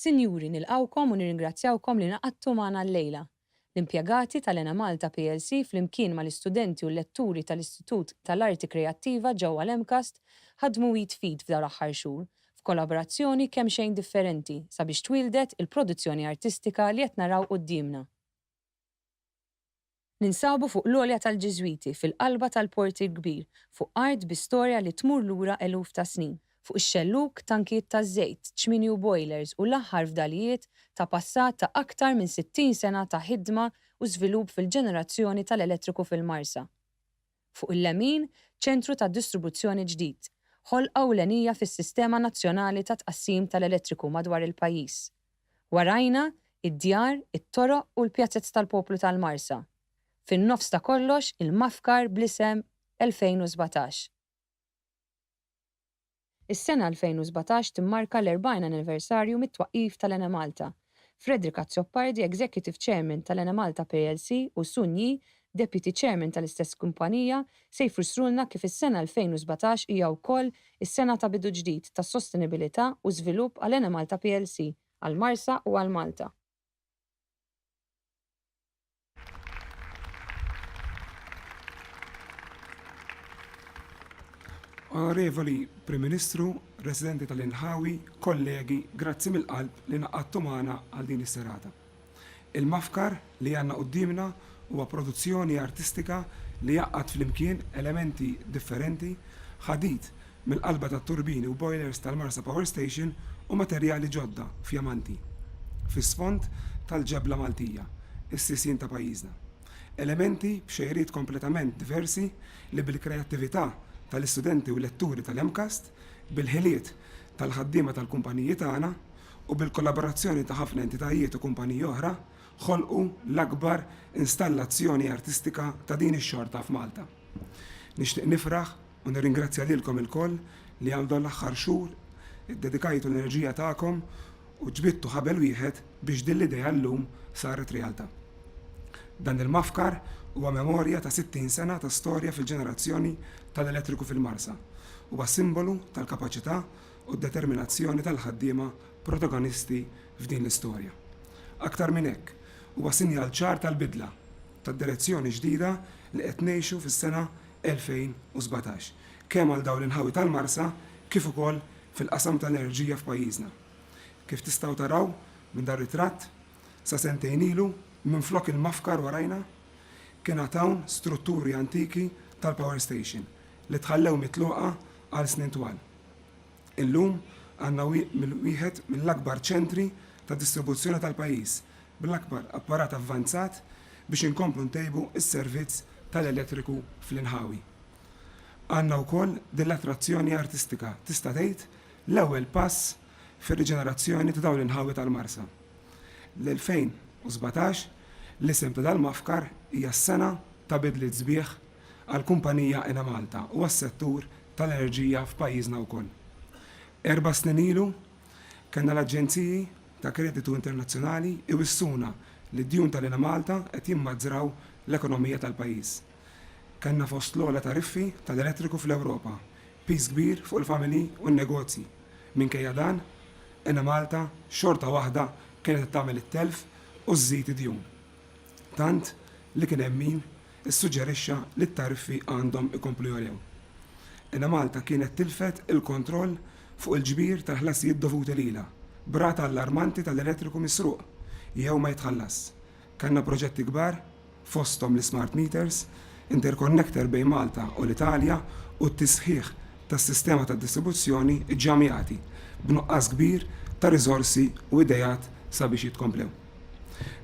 Sinjuri, nilqgħukom u nirringrazzjawkom li ngħaqadtu magħna llejla. L-impjegati tal-Enemalta plc flimkien mal-istudenti u l-letturi tal-Istitut tal-Arti Kreattiva ġewwa l-MCAST ħadmu id f'id f'dawn l-aħħar xhur f'kolabrazzjoni kemxejn differenti sabiex twieldet il-produzzjoni artistika li qed naraw quddiemna. Ninsabu fuq l-għolja tal-Ġiżwiti fil-qalba tal-Port il-Kbir, fuq art bi storja li tmur lura eluf ta' snin, fuq ix-xellug, tankijiet taż-żejt, ċmini u bojlers u l-aħħar fdalijiet ta' passat ta' aktar minn 60 sena ta' ħidma u żvilupp fil-ġenerazzjoni tal-elettriku fil-Marsa. fuq il-lemin, ċentru ta' distribuzzjoni ġdid, ħolqa ewlenija fis-sistema nazzjonali ta' tqassim tal-elettriku madwar il-pajjiż. Warajna, id-djar, it-toroq u l-pjazez tal-poplu tal-Marsa. Fin-nofs ta' kollox, il-mafkar bl-isem 2017. Is-sena 2017 timmarka l-40 anniversarju mit-twaqqif tal-Enemalta. Frederick Azzopardi, Executive Chairman tal-Enemalta plc u Sun Yee, Deputy Chairman tal-istess kumpanija, se jfrssrulna kif is-sena 2017 hija wkoll is-sena ta' bidu ġdid ta' sostenibilità u żvilupp għal Enemalta plc, għall-Marsa u għal Malta. Onorevoli Prim Ministru, residenti tal-inħawi, kollegi, grazzi mill-qalb li naqadtu magħna għal din is-serata. Il-mafkar li għandna quddiemna huwa produzzjoni artistika li jgħaqqad flimkien elementi differenti, ħadid mill-qalba tat-turbini u bojlers tal-Marsa Power Station u materjali ġodda fjamanti fis-sfond tal-ġebla Maltija, is-sisien ta' pajjiżna. Elementi b'xejriet kompletament diversi li bil-kreattività tal-istudenti u letturi tal-MCAST, bil-ħiliet tal-ħaddiema tal-kumpaniji tagħna u bil-kollaborazzjoni ta' ħafna entitajiet u kumpaniji oħra ħolqu l-akbar installazzjoni artistika ta' din ix-xorta f'Malta. Nixtieq nifraħ U nirringrazzja lilkom ilkoll li għal dawn l-aħħar xhur iddedikajtu l-enerġija tagħkom u ġbidtu ħabel wieħed biex din l-idea llum saret realtà. Dan il-mafkar huwa memorja ta' 60 sena ta' storja fil-ġenerazzjoni tal-elettriku fil-Marsa. Huwa simbolu tal-kapaċità u d-determinazzjoni tal-ħaddiema protagonisti f'din l-istorja. Aktar minn hekk, huwa sinjal ċar tal-bidla, tad-direzzjoni ġdida li qed ngħixu fis-sena 2017, kemm għal dawn l-inħawi tal-Marsa kif ukoll fil-qasam tal-enerġija f'pajjiżna. Kif tistgħu taraw minn dan ritratt, sa sentejn ilu, minflok il-mafkar warajna, kien għad hawn strutturi antiki tal-power station li tħallew mitluqa għal snin twal. Illum għandna wieħed mill-akbar ċentri ta' distribuzzjoni tal-pajjiż, bl-akbar apparat avvanzat biex inkomplu ntejbu s-servizz tal-elettriku fl-inħawi. Għandna wkoll din l-attrazzjoni artistika, tista' tgħid l-ewwel pass fir-riġenerazzjoni ta' dawn l-inħawi tal-Marsa. L-2017, l-isem ta' dal-mafkar, hija s-sena ta' bidliet sbieħ, għall-kumpanija Enemalta u għas-settur tal-enerġija f'pajjiżna wkoll. Erba' snin ilu, kellna l-aġenziji ta' kreditu internazzjonali jwissuna li d-djun tal-Enemalta qed jimmaġraw l-ekonomija tal-pajjiż. Kellna fost l-ogħla tariffi tal-elettriku fl-Ewropa, piż kbir fuq il-familji u n-negozji. Minkejja dan, Enemalta xorta waħda kienet qed tagħmel it-telf u żżid id-djun, tant li kien hemm min issuġġerixxa li t-tariffi għandhom ikomplu jogħlew. Enemalta kienet tilfet il-kontroll fuq il-ġbir tal-ħlasijiet dovuti lilha, b'rata allarmanti tal-elettriku misruq jew ma jitħallasx. Kellna proġetti kbar, fosthom l-ismart meters, interconnector bejn Malta u l-Italja u t-tisħiħ tas-sistema tad-distribuzzjoni ġġamjati b'nuqqas kbir ta' riżorsi u ideat sabiex jitkomplew.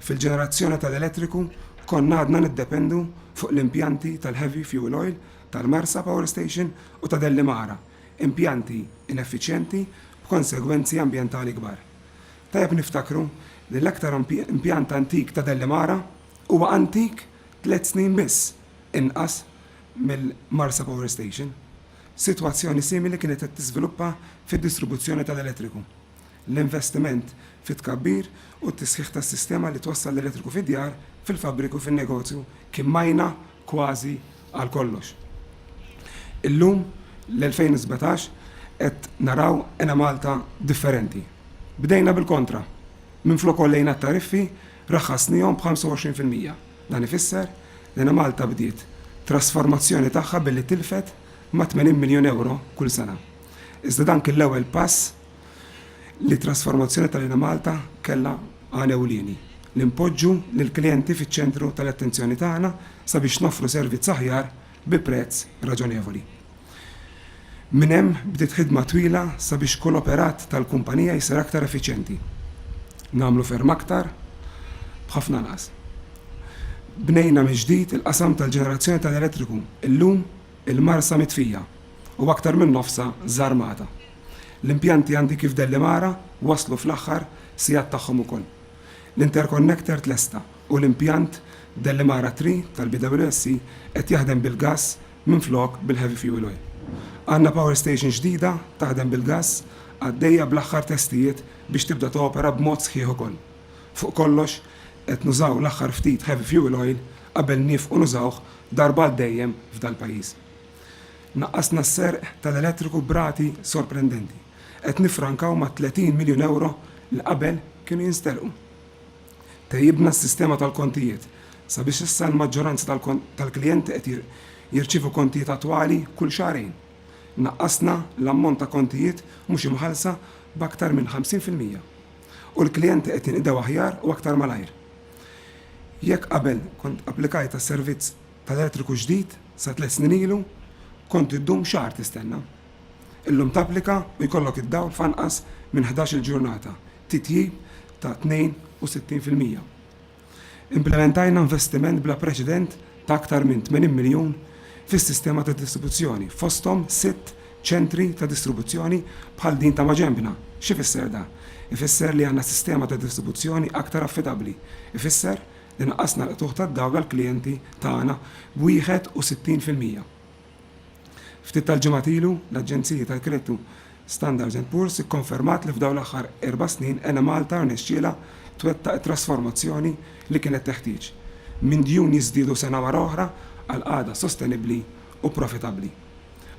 Fil-ġenerazzjoni tal-elettriku konna għadna niddependu fuq l-impjanti tal-heavy fuel oil tal-Marsa Power Station u ta' Dellimara, impjanti ineffiċjenti b'konsegwenzi ambjentali kbar. Tajjeb niftakru li l-aktar impjant antik ta' Dellimara huwa antik tliet snin biss inqas mill-Marsa Power Station. Sitwazzjoni simili kienet qed tiżviluppa fid-distribuzzjoni tal-elettriku. l-investiment fit-tkabbir u t-tisħiħ tas-sistema li twassal l-elettriku fid-djar, fil-fabbriki u fin-negozju kien majna kważi għal kollox. Illum, l-2017, qed naraw Enemalta differenti. Bdejna bil-kontra. Minflok għollejna t-tariffi, raħħasnihom b'25 fil-mija. Dan ifisser li Enemalta bdiet trasformazzjoni tagħha billi tilfet ma' 80 miljun ewro kull sena. Iżda dan kien l-ewwel pass li t-trasformazzjoni tal-Enemalta kellha għan ewlieni, li npoġġu lill-klijenti fiċ-ċentru tal-attenzjoni tagħna sabiex noffru servizz aħjar bi prezz raġonevoli. Minn hemm bdiet ħidma twila sabiex kull operat tal-kumpanija jsir aktar effiċjenti. Nagħmlu ferm aktar b'ħafna anqas. Bnejna mill-ġdid il-qasam tal-ġenerazzjoni tal-elettriku. Illum Il-Marsa mitfija u aktar minn nofsha żarmata. L-impjanti għandi kif Dellimara waslu fl-aħħar sigħat tagħhom ukoll. L-interconnector tlesta u l-impjant Dellimara Three tal-BWSC qed jaħdem bil-gass minflok bil-heavy fuel oil. Għandna power station ġdida taħdem bil-gass għaddejja bl-aħħar testijiet biex tibda topera b'mod sħiħ ukoll. Fuq kollox qed nużaw l-aħħar ftit heavy fuel oil qabel niefqu nużawh darba għal dejjem f'dal-pajjiż. Naqqasna s-serq tal-elettriku b'rati sorprendenti, qed niffrankaw mat-30 miljun ewro li qabel kienu jinsterqu. Tejjibna s-sistema tal-kontijiet sabiex issa l-maġġoranza tal-klijenti qed jirċievu kontijiet attwali kull xahrejn. Naqqasna l-ammont ta' kontijiet mhux imħallsa b'aktar minn 50 fil-mija u l-klijenti qed jinqdew aħjar u aktar malajr. Jekk qabel kont applikajt għal servizz tal-elettriku ġdid sa tliet snin ilu, kont iddum xahar tistenna. Illum tapplika u jkollok id-dawl f'anqas minn ħdax-il ġurnata, titjib ta' 62 fil-mija. Implimentajna investiment bla preċedent ta' aktar minn 80 miljun fis-sistema ta' distribuzzjoni, fosthom sitt ċentri ta' distribuzzjoni bħal din ta' maġenbna. X'ifisser dan? Ifisser li għandna sistema ta' distribuzzjoni aktar affidabbli. Ifisser li naqqasna l-qtugħ tad-dawl għall-klijenti tagħna b' 61 fil-mija. Ftit tal-ġimgħat ilu, l-aġenziji tal-kreditu Standard and Poor's ikkonfermat li f'dawn l-aħħar erba' snin Enemalta rnexxielha twettaq it-trasformazzjoni li kienet teħtieġ, minn djun jiżdiedu sena wara oħra għal qagħda sostenibbli u profitabbli.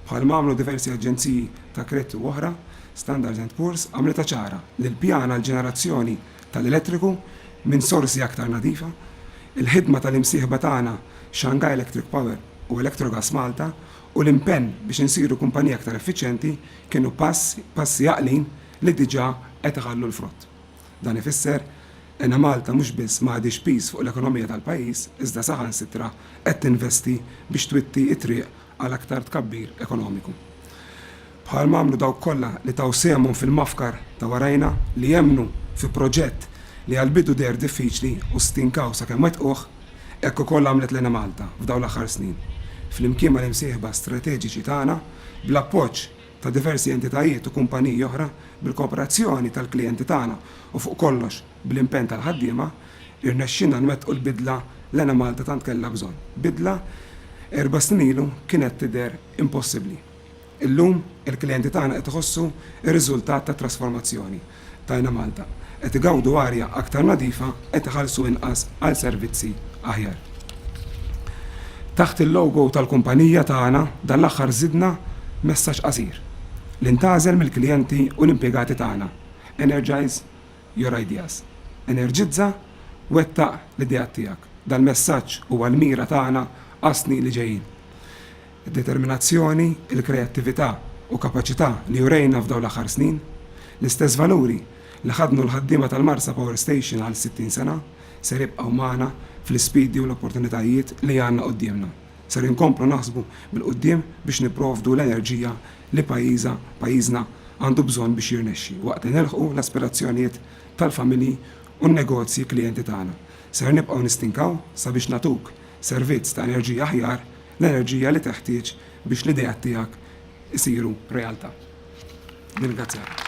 Bħalma għamlu diversi aġenziji ta' kreditu oħra, Standard and Poor's għamlitha ċara li l-pjan għall-ġenerazzjoni tal-elettriku minn sorsi aktar nadifa, il-ħidma tal-imsieħba tagħna Shanghai Electric Power, u Electrogas Malta u l-impenn biex insiru kumpanija aktar effiċjenti kienu pass, passi għaqlin li diġà qed iħallu l-frott. Dan ifisser Enemalta mhux biss ma għadhiex piż fuq l-ekonomija tal-pajjiż iżda saħansitra qed tinvesti biex twitti t-triq għal aktar tkabbir ekonomiku. bħal ma għamlu dawk kollha li taw sehemhom fil-mafkar ta' warajna, li emmnu fi proġett li għall-bidu deher diffiċli u stinkaw sakemm wettquh, hekk ukoll għamlet l-Enemalta f'dawn l-aħħar snin, flimkien mal-imsieħba strateġiċi tagħna, bl-appoġġ ta' diversi entitajiet u kumpaniji oħra, bil-kooperazzjoni tal-klijenti tagħna u fuq kollox bl-impenn tal-ħaddiema, irnexxielna nwettqu l-bidla l-Enemalta tant kellha bżonn, bidla erba' snin ilu kienet tidher impossibbli. Illum, il-klijenti tagħna qed iħossu r-riżultat tat-trasformazzjoni. Tajna Malta. Qed igawdu arja aktar nadifa, qed iħallsu inqas għal servizzi aħjar. Taħt il-logo tal-kumpanija tagħna dan l-aħħar żidna messaġġ qasir, li ntgħażel mill-klijenti u l-impjegati tagħna, Energize your ideas. Enerġizza, wettaq l-ideat tiegħek. Dal-messaġġ huwa l-mira tagħna għas-snin li ġejjin. id-determinazzjoni, il-kreattività u kapaċità li urejna f'dawn l-aħħar snin, l-istess valuri li ħaddnu l-ħaddiema tal-Marsa Power Station għal 60 sena, ser jibqgħu magħna fl-isfidi u l-opportunitajiet li għandna quddiemna. Ser inkomplu naħsbu bil-quddiem biex nipprovdu l-enerġija li pajjiża, pajjiżna għandu bżonn biex jirnexxi waqt li nilħqu l-aspirazzjonijiet tal-familji u n-negozji klijenti tagħna. Ser nibqgħu nistinkaw sabiex nagħtuk servizz ta' enerġija aħjar, l-enerġija li teħtieġ biex l-ideat tiegħek isiru realtà. Nirringrazzjak.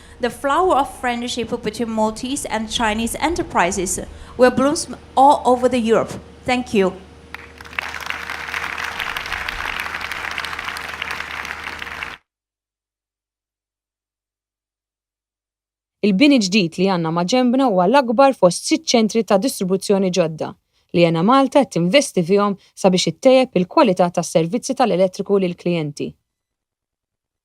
The flower of friendiship between Maltese and Chinese enterprises will bloomsm all over the Europe. Thank you. Il-bini ġdid li għandna maġenbna huwa l-akbar fost sitt ċentri ta' distribuzzjoni ġodda li Enemalta qed tinvesti fihom sabiex ittejjeb il-kwalità tas-servizzi tal-elettriku lill-klijenti.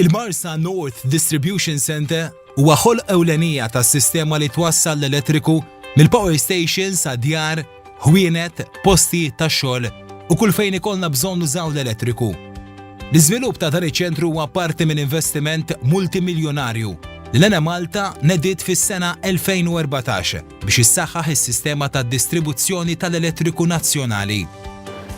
Il-Marsa North Distribution Center huwa ħol ewlenija tas-sistema li twassal l-elettriku mill-power station sa djar, ħwienet, posti ta' xogħol u kull fejn ikollna bżonn użaw l-elettriku. L-iżvilupp ta' dan iċ-ċentru huwa parti minn investiment multimiljonarju li l-Ena Malta nediet fis-sena 2014 biex issaħħaħ is-sistema ta' distribuzzjoni tal-elettriku nazzjonali.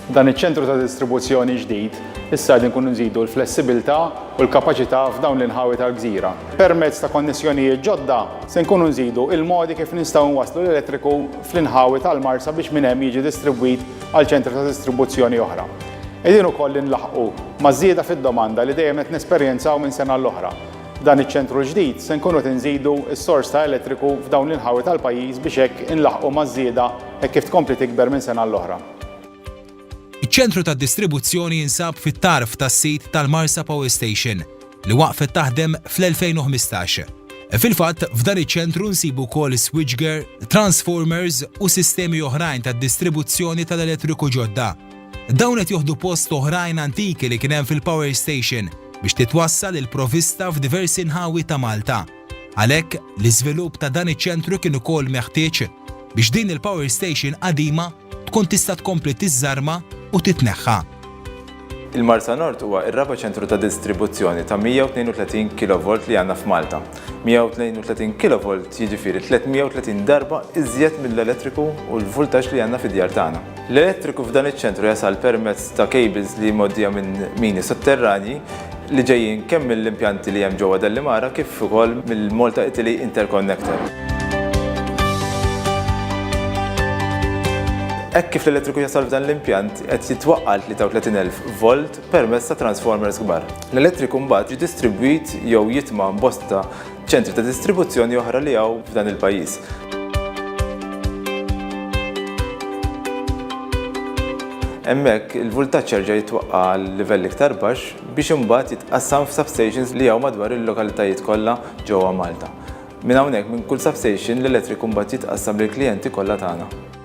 F'dan iċ-ċentru ta' distribuzzjoni ġdid, issa qegħdin inkunu nżidu l-flessibilità u l-kapaċità f'dawn l-inħawi tal-gżira. Permezz ta' konnessjonijiet ġodda, se nkunu nżidu l-modi kif nistgħu nwasslu l-elettriku fl-inħawi tal-Marsa biex minn hemm jiġi distribwit għal ċentri ta' distribuzzjoni oħra. Qegħdin ukoll inlaħħqu maż-żieda fid-domanda li dejjem qed nesperjenzaw minn sena l-oħra, F'dan iċ-ċentru l-ġdid se nkunu qed inżidu s-sors ta' elettriku f'dawn l-inħawi tal-pajjiż biex hekk inlaħħqu maż-żieda hekk kif tkompli tikber minn sena għal oħra. Iċ-ċentru tad-distribuzzjoni jinsab fit-tarf tas-sit tal-Marsa Power Station, li waqfet taħdem fl-2015. Fil-fatt, f'dan iċ-ċentru nsibu wkoll switchgear, transformers u sistemi oħrajn tad-distribuzzjoni tal-elettriku ġodda. Dawn qed joħdu post oħrajn antiki li kien hemm fil-power station biex titwassal il-provista f'diversi nħawi ta' Malta. Għalhekk, l-iżvilupp ta' dan iċ-ċentru kien ukoll meħtieġ biex din il-power station qadima tkun tista' tkompli tiżżarma u titneħħa. Il-Marsa Nord huwa r-raba' ċentru ta' distribuzzjoni ta' 132 kilovolt li għandna f'Malta. 132 kilovolt jiġifieri 330 darba iżjed mill-elettriku u l-vultaġġ li għandna fid-djar tagħna. L-elettriku f'dan iċ-ċentru jasal permezz ta' cables li mgħoddija minn mini sotterranji li ġejjin kemm mill-impjanti li hemm ġewwa Dellimara kif ukoll mill-Malta Italy Interconnector. Hekk kif l-elettriku jasal f'dan l-impjant qed jitwaqqa' 33,000 volt permezz ta' transformers kbar. L-elettriku mbagħad jiġi distribwit jew jitma' bosta ċentri ta' distribuzzjoni oħra li hawn f'dan il-pajjiż. Hemmhekk il-vultaġġ jerġa' jitwaqqa' għal livell iktar baxx biex imbagħad jitqassam f'substations li hawn madwar il-lokalitajiet kollha ġewwa Malta. Minn hawnhekk minn kull substation l-elettriku mbagħad jitqassam lill-klijenti kollha tagħna.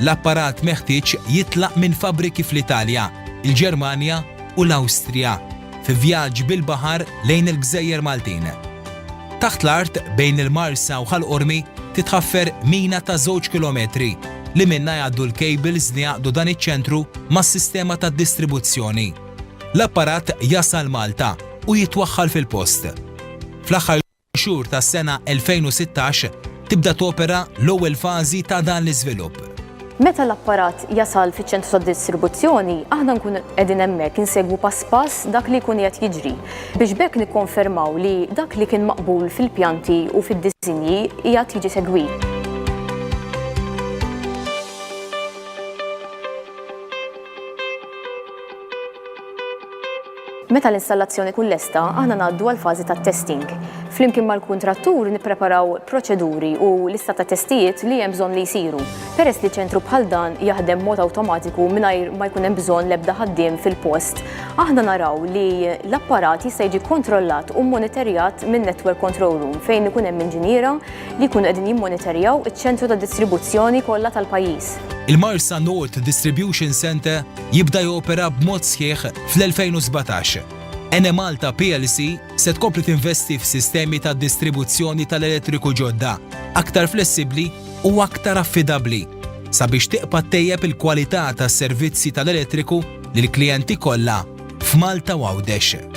L-apparat meħtieġ jitlaq minn fabbriki fl-Italja, il-Ġermanja u l-Awstrija fi vjaġġ bil-baħar lejn il-gżejjer Maltin. Taħt l-art bejn il-Marsa u Ħal Qormi titħaffer mina ta' żewġ kilometri li minnha jgħaddu l-kejbils li jgħaqqdu dan iċ-ċentru mas-sistema tad-distribuzzjoni. L-apparat jasal Malta u jitwaħħal fil-post. Fl-aħħar. xhur tas-sena 2016 tibda topera l-ewwel fażi ta' dan l-iżvilupp. Meta l-apparat jasal fiċ-ċentru tad-distribuzzjoni, aħna nkunu qegħdin hemmhekk insegwu pass pass dak li jkun qiegħed jiġri, biex b'hekk nikkonfermaw li dak li kien maqbul fil-pjanti u fid-disinji qiegħed jiġi segwit. Meta l-installazzjoni tkun lesta, aħna ngħaddu għall-fażi tat-testing. Flimkien mal-kuntrattur nippreparaw proċeduri u lista ta' testijiet li hemm bżonn li jsiru, peress li ċentru bħal dan jaħdem b'mod awtomatiku mingħajr ma jkun hemm bżonn l-ebda ħaddiem fil-post. Aħna naraw li l-apparat jista' jiġi kkontrollat u mmonitorjat minn network control room fejn ikun hemm inġiniera li jkunu qegħdin jimmonitorjaw iċ-ċentru ta' distribuzzjoni kollha tal-pajjiż. Il-Marsa North Distribution Centre jibda jopera b'mod sħiħ fl-2017, Enemalta plc se tkompli tinvesti f'sistemi ta' distribuzzjoni tal-elettriku ġodda, aktar flessibbli u aktar affidabbli sabiex tibqa' ttejjeb il-kwalità tas-servizzi tal-elettriku lill-klijenti kollha f'Malta u Għawdex.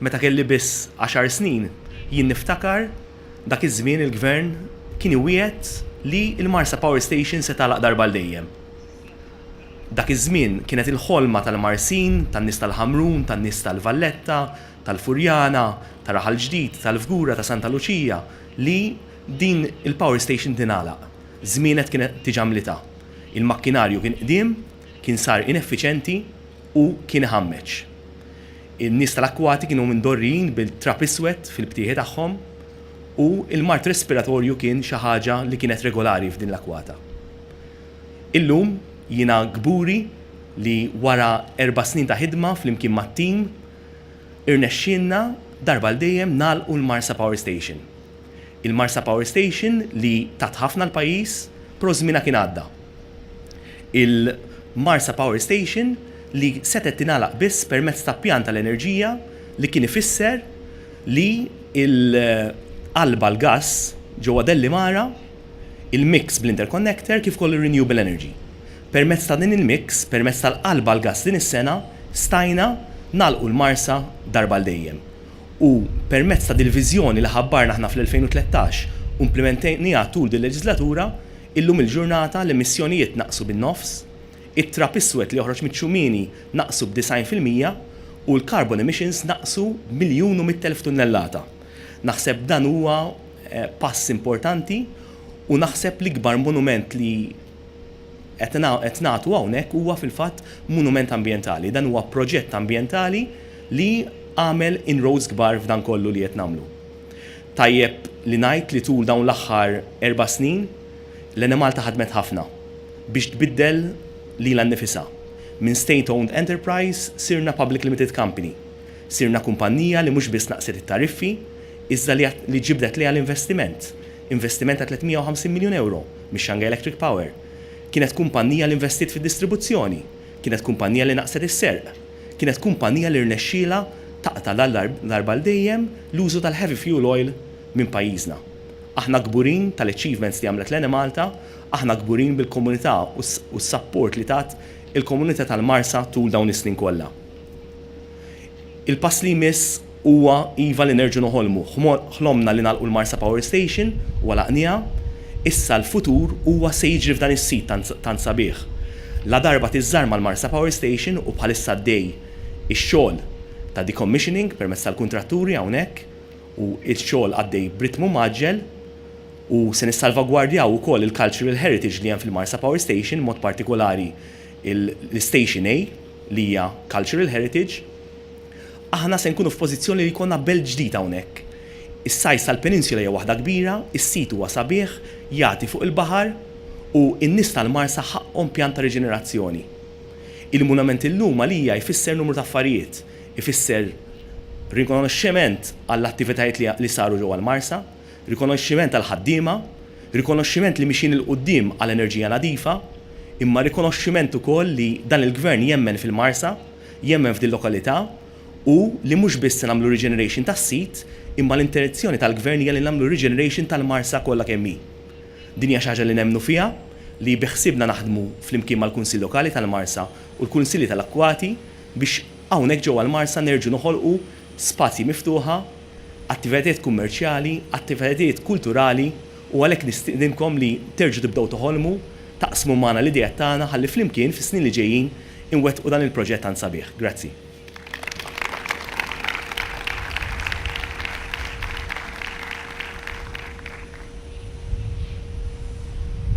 Meta kelli biss għaxar snin, jien niftakar dak iż-żmien il-Gvern kien iwiegħed li l-Marsa Power Station se tagħlaq darba għal dejjem. Dak iż-żmien kienet il-ħolma tal-Marsin, tan-nies tal-Ħamrun, tan-nies tal-Valletta, tal-Furjana, ta' Raħal Ġdid, tal-Fgura, ta' Santa Luċija li din il-power station tingħalaq. Żmienet kienet diġà mlita. Il-makkinarju kien qdiem, kien sar ineffiċenti. Hu kien iħammeġ. In-nies tal-akkwati kienu mdorrijin bil-trab iswed fil-btieħi tagħhom u l-mard respiratorju kien xi ħaġa li kienet regolari f'din l-akkwata. Illum jiena kburi li wara erba' snin ta' ħidma flimkien mat-tim irnexxielna darba għal dejjem nagħlqu l-Marsa Power Station. Il-Marsa Power Station li tat ħafna l-pajjiż pro żmienha kien għadda. Il-Marsa Power Station li setgħet tingħalaq biss permezz ta' pjan tal-enerġija li kien ifisser li l-qalba l-gass ġewwa Dellimara, il-mix bl-interconnector kif ukoll ir-renewable energy. Permezz ta' din il-mix, permezz tal-qalba l-gass din is-sena stajna nagħlqu l-Marsa darba għal dejjem. U permezz ta' dil-viżjoni li ħabbarna aħna fl-2013 u implimentajniha tul dil-leġislatura, illum il-ġurnata l-emissjonijiet naqsu bin-nofs, it-trab iswed li joħroġ miċ-ċumini naqsu b'disgħin fil-mija u l-carbon emissions naqsu b'miljun u mitt elf tunnellata. Naħseb dan huwa pass importanti u naħseb l-ikbar monument li, qed nagħtu hawnhekk huwa fil-fatt munument ambjentali. Dan huwa proġett ambjentali li għamel inroads kbar f'dan kollu li qed nagħmlu. Tajjeb li ngħid li tul dawn l-aħħar erba' snin, l-Enemalta ħadmet ħafna biex tbiddel lilha nnifisha. Minn state owned enterprise sirna public limited company. Sirna kumpannija li mhux biss naqqset it-tariffi, iżda li ġibdet lejha l-investiment. Investiment ta' 350 miljun ewro mis-Shanghai Electric Power. Kienet kumpannija li investiet fid-distribuzzjoni. Kienet kumpannija li naqqset is-serq. Kienet kumpannija li rnexxielha taqta' la darba għal dejjem l-użu tal-heavy fuel oil minn pajjiżna. Aħna kburin tal-achievements li għamlet l-Enemalta, aħna kburin bil-komunità u s-sapport li tat il-komunità tal-Marsa tul dawn is-snin kollha. Il-pass li jmiss huwa iva li nerġgħu noħolmu. Ħlomna li nagħlqu l-Marsa Power Station u għalaqnieha. Issa l-futur huwa se jiġri f'dan is-sit tant tant sabiħ. Ladarba tiżżarma l-Marsa Power Station u bħalissa għaddej ix-xogħol ta' decommissioning permezz tal-kuntratturi hawnhekk u x-xogħol għaddej b'ritmu mgħaġġel u se nissalvagwardjaw ukoll il-cultural heritage li hemm fil-Marsa Power Station b'mod partikolari l-Station A li hija Cultural Heritage, aħna se nkunu f'pożizzjoni li jkollna belt ġdid hawnhekk. Is-size tal-peninsula hija waħda kbira, is-sit huwa sabiħ, jagħti fuq il-baħar u n-nies tal-Marsa ħaqqhom pjan ta' riġenerazzjoni. Il-munament illum għalija jfisser numru ta' affarijiet, ifisser rikonoxximent għall-attivitajiet li saru ġewwa l-Marsa, rikonoxximent għall-ħaddiema, rikonoxximent li mixjin 'il quddiem għal enerġija nadifa, imma rikonoxximent ukoll li dan il-Gvern jemmen fil-Marsa, jemmen f'dil-lokalità u li mhux biss se nagħmlu regeneration tas-sit imma l-intenzjoni tal-Gvern hija li nagħmlu regeneration tal-Marsa kollha kemm hi. Din hija xi ħaġa li nemmnu fiha, li biħsiebna naħdmu flimkien mal-Kunsill Lokali tal-Marsa u l-Kunsilli tal-Akkwati biex hawnhekk ġewwa l-Marsa nerġgħu noħolqu spazji miftuħa, attivitajiet kummerċjali, attivitajiet kulturali u għalhekk nistiedinkom li terġgħu tibdew toħolmu, taqsmu magħna l-ideat tagħna ħalli flimkien fis-snin li ġejjin inwettqu dan il-proġett tant sabiħ. Grazzi.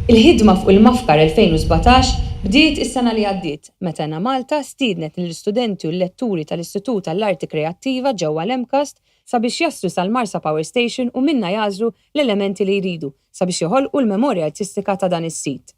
Il-ħidma fuq il-MAFCAR 2017 bdiet is-sena li għaddiet. meta Enemalta stiednet lill-istudenti u l-letturi tal-Istitut għall-Arti Kreattiva ġewwa l-MCAST sabiex jaslu sal-Marsa Power Station u minnha jagħżlu l-elementi li jridu sabiex joħolqu l-memorja artistika ta' dan is-sit.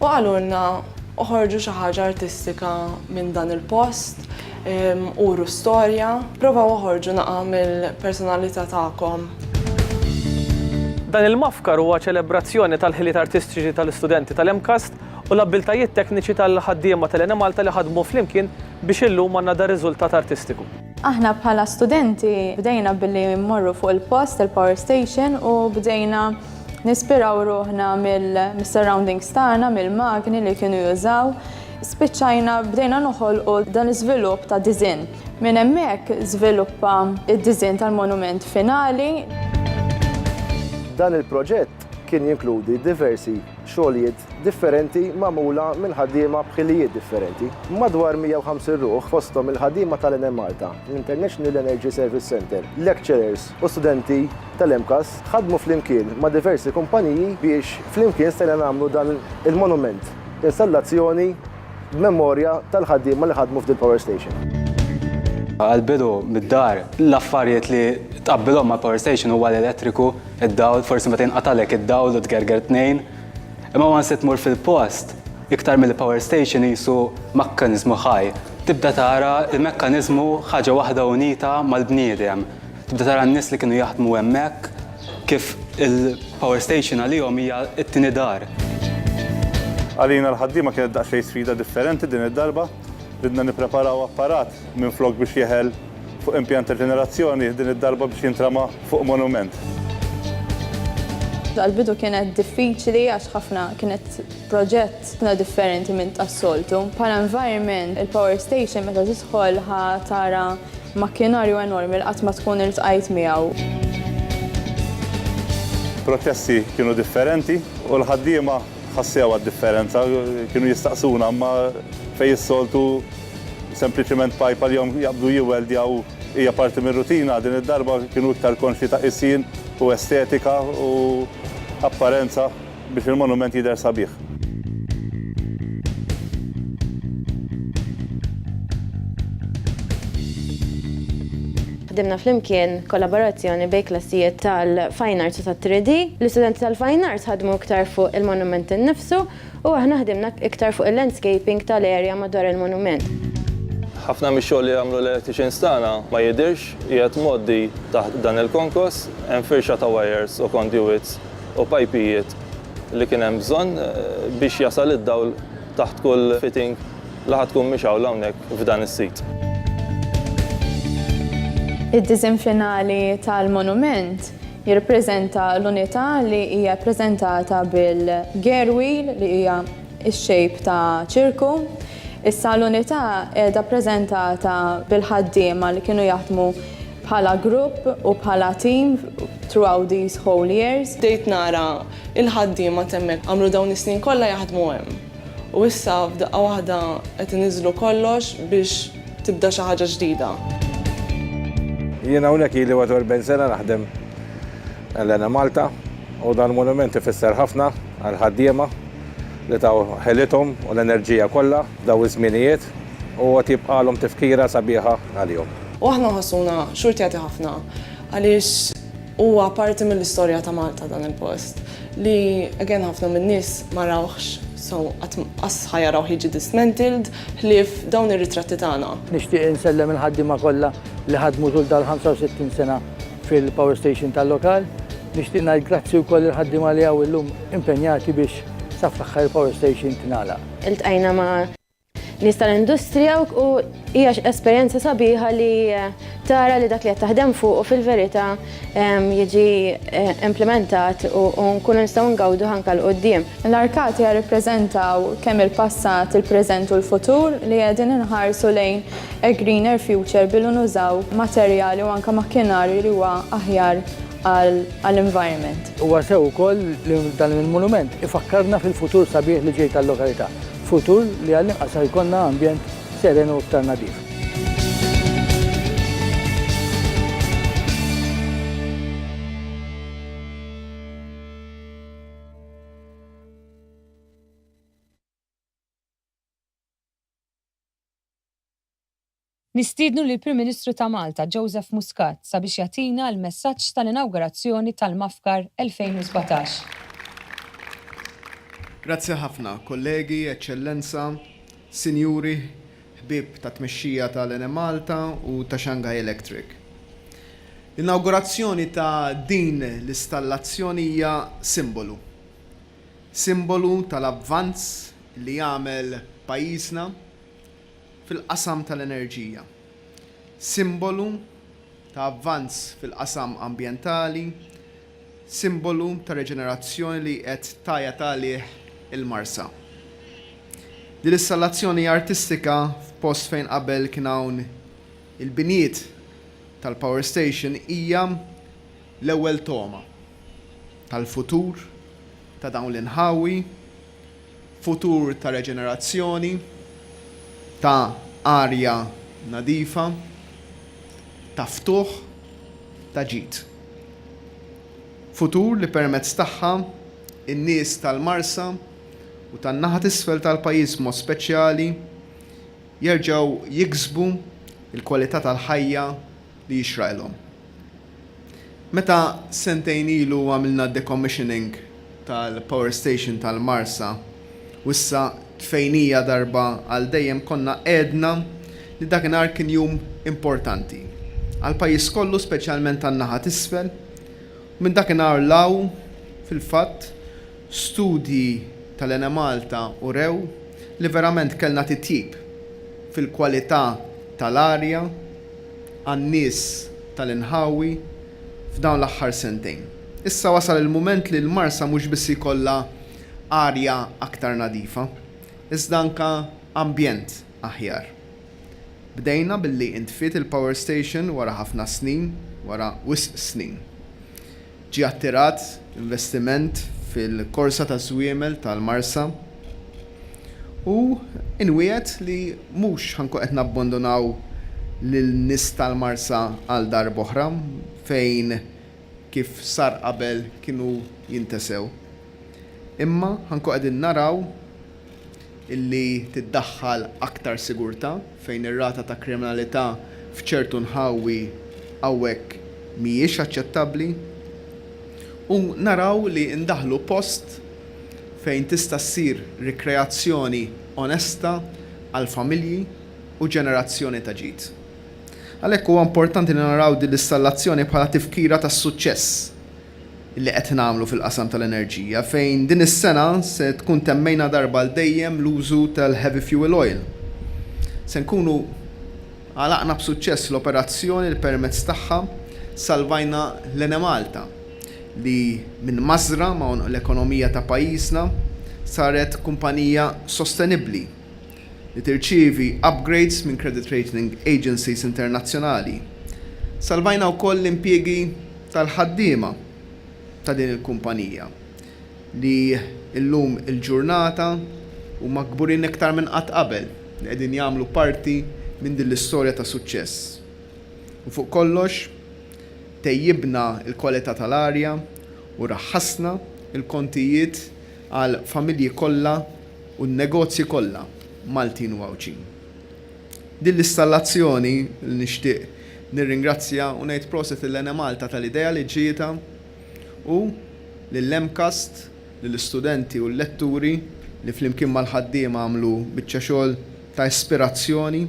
U qalulna, oħorġu xi ħaġa artistika minn dan il-post, uru storja, provaw oħorġu naqa' mill-personalità tagħkom. Dan il-mafkar huwa ċelebrazzjoni tal-ħiliet artistiċi tal-istudenti tal-MCAST u l-abbiltajiet tekniċi tal-ħaddiema tal-Enemalta li ħadmu flimkien biex illum għandna dar-riżultat artistiku. Aħna bħala studenti bdejna billi mmorru fuq il-post il-power station u bdejna nispiraw ruħna mill-surroundings tagħna, mill-magni li kienu jużaw. Spiċċajna bdejna noħolqu dan l-iżvilupp ta' diżinn. Minn hemmhekk żviluppa d-diżinn tal-monument finali. Dan il-proġett kien jinkludi diversi xogħlijiet differenti magħmula minn ħaddiema b'ħilijiet differenti. Madwar 150 ruħ, fosthom il-ħaddiema tal-Enemalta, l-International Energy Service Centre, lecturers u studenti tal-MCAS, ħadmu flimkien ma' diversi kumpaniji biex flimkien stajna nagħmlu dan il-monument, installazzjoni b'memorja tal-ħaddiema li ħadmu f'dil-power station. Għall-bidu, mid-dar, l-affarijiet li tqabbilhom mal-power station huwa l-elettriku, Id-dawl, forsi meta jinqatagħlek id-dawl u tgerger tnejn. Imma once li tmur fil-post, iktar milli power station qisu makkaniżmu ħaj. Tibda tara l-mekkaniżmu ħaġa waħda unita mal-bniedem. Tibda tara n-nies li kienu jaħdmu hemmhekk kif il-power station għalihom hija t-tieni dar. Għalina l-ħaddiema kienet daqsxejn sfida differenti din id-darba. Ridna nippreparaw apparat minflok biex jeħel. fuq impjant ta' ġenerazzjoni, din id-darba biex jintrama fuq monument. Għall-bidu kienet diffiċli għax ħafna kienet proġett ħafna differenti minn tas-soltu. Bħala environment, il-power station meta tidħol ħa tara makkinarju enormi li qatt ma tkun iltqajt miegħu. Proċessi kienu differenti u l-ħaddiema ħassew għad-differenza. Kienu jistaqsuna, imma fejn is-soltu Sempliċiment pajpa li hom jaqbdu jiweldjaw hija parti mir-rutina, din id-darba kienu iktar konxji ta' qisien u estetika u apparenza biex il-monument jidher sabiħ. Ħdimna flimkien kollaborazzjoni bejn klassijiet tal-Fine Arts u tat-3D. L-istudenti tal-Fine Arts ħadmu iktar fuq il-monument innifsu U aħna ħdimna iktar fuq il-landscaping tal-area madwar il-monument. Ħafna mix-xogħol li għamlu l-electricians tagħna ma jidhirx qiegħed mgħoddi taħt dan il-konkos, hemm firxa ta' wires u conduits u pajpijiet li kien hemm bżonn biex jasal id-dawl taħt kull fitting. la ħa tkun mixgħula hawnhekk f'dan is-sit. Id-disinn finali tal-monument jirrappreżenta l-unità li hija ppreżentata bil-gear wheel li hija x-shape ta' ċirku. Issa l-unità qiegħda ppreżentata bil-ħaddiema li kienu jaħdmu bħala grupp u bħala team throughout these whole years. Bdejt nara il-ħaddiema t'hemmhekk għamlu dawn is-snin kollha jaħdmu hemm. U issa f'daqqa waħda qed iniżżlu kollox biex tibda xi ħaġa ġdida. Jien hawnhekk ili 41 sena naħdem għal Enemalta u dan il-monument ifisser ħafna għall-ħaddiema li taw ħelithom u l-enerġija kollha f'dawn iż-żmienijiet u għad jibqagħlhom tifkira sabiħa għalihom. U aħna nħossuna xhur tjati ħafna għaliex Huwa parti mill-istorja ta' Malta dan il-post, li again ħafna min-nies ma rawhx, so qatt qass ħa jarawh jiġi dismantled, ħlief dawn ir-ritratti tagħna. Nixtieq insellem il-ħaddiema kollha li ħadmu tul dal-65 sena fil-power station tal-lokal. Nixtieq ngħid grazzi wkoll lill-ħaddiema li hawn illum impenjati biex sa fl-aħħar il-power station tingħalaq. Iltqajna ma'. nies tal-industrija u hija esperjenza sabiħa li tara li dak li qed taħdem fuq fil-verità jiġi implementat u nkunu nistgħu ngawdu ħanka l qudiem. L-arkati jirrappreżentaw kemm il-passat, il-preżent u l-futur li qegħdin inħarsu lejn a greener future billi nużaw materjali u anke makkinarju li huwa aħjar għall-environment. Huwa sew ukoll li dan il-monument ifakkarna fil-futur sabiħ li ġej tal-lokalità. Futur li għall-inqas ħa jkollna ambjent seren u iktar nadif. Nistiednu lill-Prim Ministru ta' Malta, Joseph Muscat, sabiex jagħtina l-messaġġ tal-inawgurazzjoni tal-MAFCAR 2017. Grazzi ħafna, kollegi, Eċċellenza, Sinjuri, ħbieb tat-tmexxija tal-Enemalta u ta' Shanghai Electric. L-inawgurazzjoni ta' din l-istallazzjoni hija simbolu. Simbolu tal-avvanz li għamel pajjiżna fil-qasam tal-enerġija, simbolu ta' avvanz fil-qasam ambjentali, simbolu ta' reġenerazzjoni li qed tgħajjat għalih il-Marsa. Din l-istallazzjoni artistika f'post fejn qabel kien hawn il-binjiet tal-power station hija l-ewwel togħma tal-futur ta' dawn l-inħawi, futur ta' reġenerazzjoni, ta' arja nadifa, ta' ftuħ, ta' ġid. Futur li permezz tagħha n-nies tal-Marsa u tan-naħa t'isfel tal-pajjiż b'mod speċjali jerġgħu jiksbu l-kwalità tal-ħajja li jixraqilhom. Meta sentejn ilu għamilna d-decommissioning tal-power station tal-Marsa u issa tfejnija darba għal dejjem konna għedna li dakinhar kien jum importanti għall-pajjiż kollu speċjalment għan-naħa t'isfel u minn dakinhar 'l hawn fil-fatt studji tal-Enemalta urew li verament kellna titjib fil-kwalità tal-arja għan-nies tal-inħawi f'dawn l-aħħar sentejn. Issa wasal il-mument li l-Marsa mhux biss jkollha arja aktar nadifa, iżda anke ambjent aħjar. Bdejna billi intfiet il-power station wara ħafna snin, wara wisq snin. Ġie attirat investiment fil-korsa taż-żwiemel tal-Marsa u nwiegħed li mhux ħa nkun qed nabbondonaw lin-nies tal-Marsa għal darb'oħra fejn kif sar qabel kienu jintesew. Imma ħa nkun qegħdin naraw li tiddaħħal aktar sigurtà fejn ir-rata ta' kriminalità f'ċertu nħawi hawnhekk mhijiex aċċettabbli u naraw li ndaħħlu post fejn tista' ssir rikreazzjoni onesta għall-familji u ġenerazzjoni ta' ġid. Għalhekk huwa importanti li naraw din l-istallazzjoni bħala tifkira tas-suċċess li qed nagħmlu fil-qasam tal-enerġija fejn din is-sena se tkun temmejna darba għal dejjem l-użu tal-heavy fuel oil. Se nkunu għalaqna b'suċċess l-operazzjoni li permezz tagħha salvajna l-Enemalta li minn mażżra ma' għonq l-ekonomija ta' pajjiżna saret kumpanija sostenibbli li tirċievi upgrades minn credit rating agencies internazzjonali. Salvajna wkoll l-impjiegi tal-ħaddiema ta' din il-kumpanija li llum il-ġurnata huma kburin iktar minn qatt qabel li qegħdin jagħmlu parti minn din l-istorja ta' suċċess. U fuq kollox, tejjibna l-kwalità tal-arja u raħħasna l-kontijiet għall-familji kollha u n-negozji kollha Maltin u Għawdxin. Din l-istallazzjoni li nixtieq nirringrazzja u ngħid proset lil Enemalta tal-idea li ġietha u lil MCAST, lill-istudenti u l-letturi li flimkien mal-ħaddiema għamlu biċċa xogħol ta' ispirazzjoni.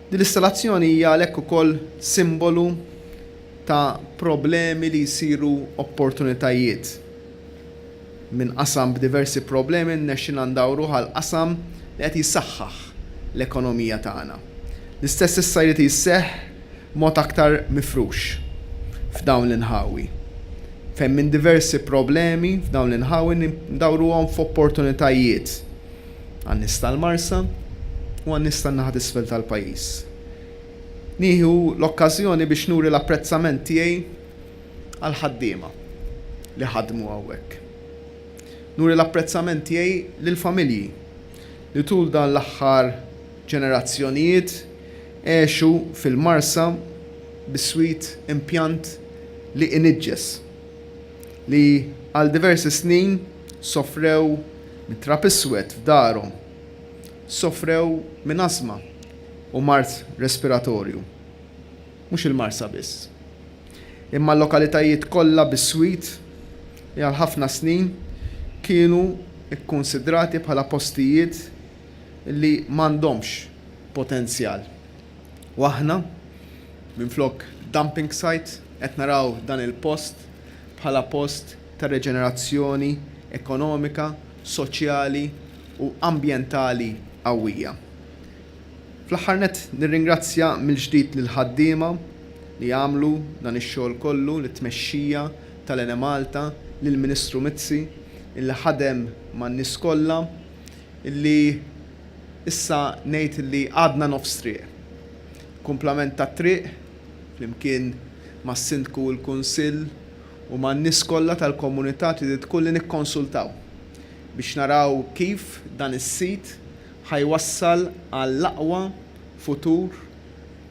Din l-istallazzjoni hija għalhekk ukoll simbolu ta' problemi li jsiru opportunitajiet. Minn qasam b'diversi problemi rnexxilna ndawruh għal qasam li qed jsaħħaħ l-ekonomija tagħna. L-istess issa jrid jseħħ b'mod aktar mifrux f'dawn l-inħawi fejn minn diversi problemi f'dawn l-inħawi ndawruhom f'opportunitajiet għan-nies tal-Marsa u għan-nies tan-naħa t'isfel tal-pajjiż. Nieħu l-okkażjoni biex nuri l-apprezzament tiegħi għall-ħaddiema li ħadmu hawnhekk. Nuri l-apprezzament tiegħi lill-familji li tul dan l-aħħar ġenerazzjonijiet għexu fil-Marsa biswit impjant li iniġġes, li għal diversi snin sofrew minn trab iswed f'darhom, sofrew minn asma u mard respiratorju. mhux il-Marsa biss, imma l-lokalitajiet kollha biswit li għal ħafna snin kienu kkunsidrati bħala postijiet li m'għandhomx potenzjal. U aħna, minflok dumping site, qed naraw dan il-post bħala post ta' reġenerazzjoni ekonomika, soċjali u ambjentali qawwija. Fl-aħħar nett nirringrazzja mill-ġdid lill-ħaddiema li għamlu dan ix-xogħol kollu, lit-tmexxija tal-Enemalta, lill-Ministru Mizzi illi ħadem man-nies kollha illi issa ngħid illi għadna nofs triq. Kumplament tat-triq, flimkien mas-Sindku u l-Kunsill u man-nies kollha tal-komunità triditkolli nikkonsultaw biex naraw kif dan is-sit Ħa jwassal għall-aqwa futur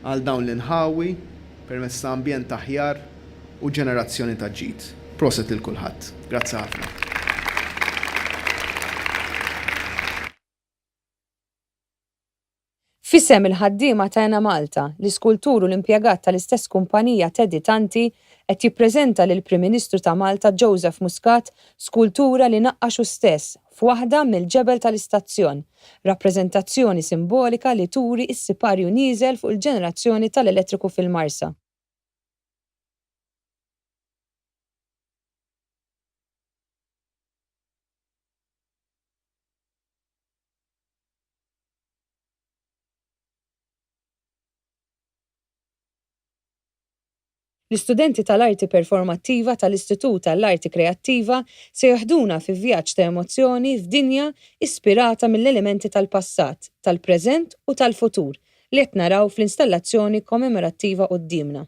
għal dawn l-inħawi permezz ta' ambjent aħjar u ġenerazzjoni ta' ġid. Proset lil kulħadd. Grazzi ħafna. F'isem il-ħaddiema ta' Enemalta, l-iskultur u l-impjegat tal-istess kumpanija Teddy Tanti qed jippreżenta lill-Prim Ministru ta' Malta Joseph Muscat skultura li naqqax hu stess, f'waħda mill-ġebel tal-istazzjon, rappreżentazzjoni simbolika li turi s-siparju nieżel fuq il-ġenerazzjoni tal-elettriku fil-Marsa. L-istudenti tal-Arti Performattiva tal-Istitut għall-Arti Kreattiva se jeħduna fi vjaġġ ta' emozzjoni f'dinja ispirata mill-elementi tal-passat, tal-preżent u tal-futur li qed naraw fl-installazzjoni kommemorattiva quddiemna.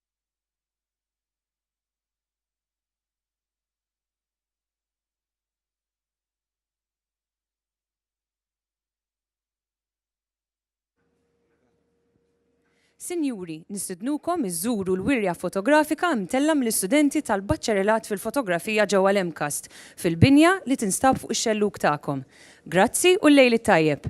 Sinjuri, nistidnukom iżżuru l-wirja fotografika mtellgħa mill-istudenti tal-Baċċerelat fil-Fotografija ġewwa l-MCAST, fil-binja li tinstab fuq ix-xellug tagħkom. Grazzi u l-lejl it-tajjeb!